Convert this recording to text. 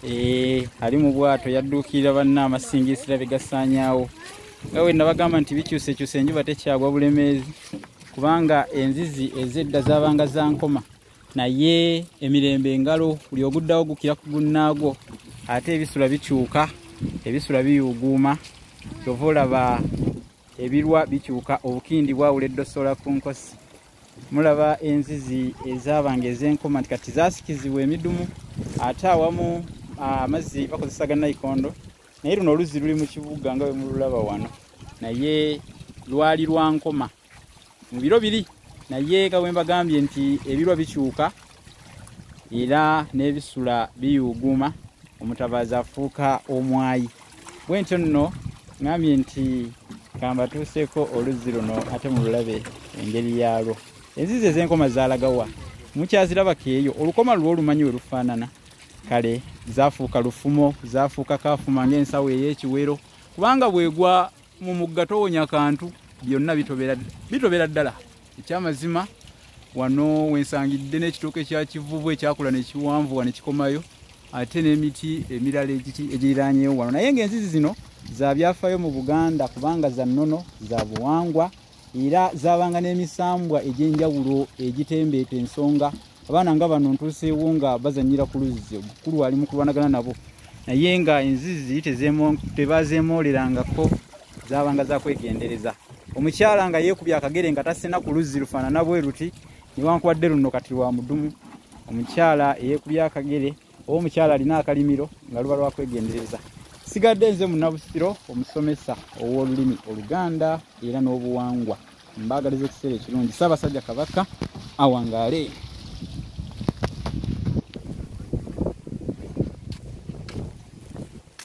Eh, ali mu bwato yadduukirira banna amasingisira bye gasaanyaawo nga we nabagamba nti bikyusekyusa enjuba tekyagwa bulemeezi kubanga enzizi ezedda zaabanga za nkoma naye emirembe engalo buli oguddawo gukira ku gunnaagwo ate ebisula bikyuka ebisula biyuuguuma kyova olaba ebirwa bikyuka obukindi bwawula eddosola ku nkosi mulaba enzizi ezaabanga ez'enkoma nti kati zaasikizibwa emidumu ate awamu amazzi bakozesa ga naikondo naye luno oluzzi luli mu kibuga nga bwe mululaba wano naye lwali lwa nkoma mu biro biri naye nga bwe mbagambye nti ebirwa bikyuka era n'ebisula biyuuguuma omutabaazi afuuka omwayi bwe ntyo nno ngambye nti kambatuuseeko oluzzi luno ate mu lulabe engeri yaalwo enzizi ez'enkoma zaalagawa mukyazirabako eyo olukoma lwo olumanyi we lufaanana kale zafuuka lufumo zafuuka kafuma ngaensawo ey'ekiwero kubanga bwegwa mu mugga towonya kantu byonna bitobera ddala ekyamazima wano wensangidde n'ekitooke kya kivuvu ekyakula nekiwanvuwa nekikomayo ate n'emiti emirala egiriranyewo wano naye ngaenzizi zino zabyafaayo mu buganda kubanga za nnono za buwangwa era zaabanga n'emisambwa egy'enjawulo egitembeeta ensonga abaana nga bano ntuuseewo nga bazanyira ku luzzi omukulu ali mu kulwanagana nabo naye nga enzizi tebazeemoolerangako zaabanga zakwegendereza omukyala nga yeekubya akagere nga tasena ku luzzi lufaanana bwe luti newankubadde luno kati lwa mudumu omukyala eyeekubya akagere omukyala alina akalimiro nga luba lwakwegendereza sigadde nze munabusiro omusomesa ow'olulimi oluganda era n'obuwangwa mbaagaliza ekiseera ekirungi ssaabasajja kabaka awangaale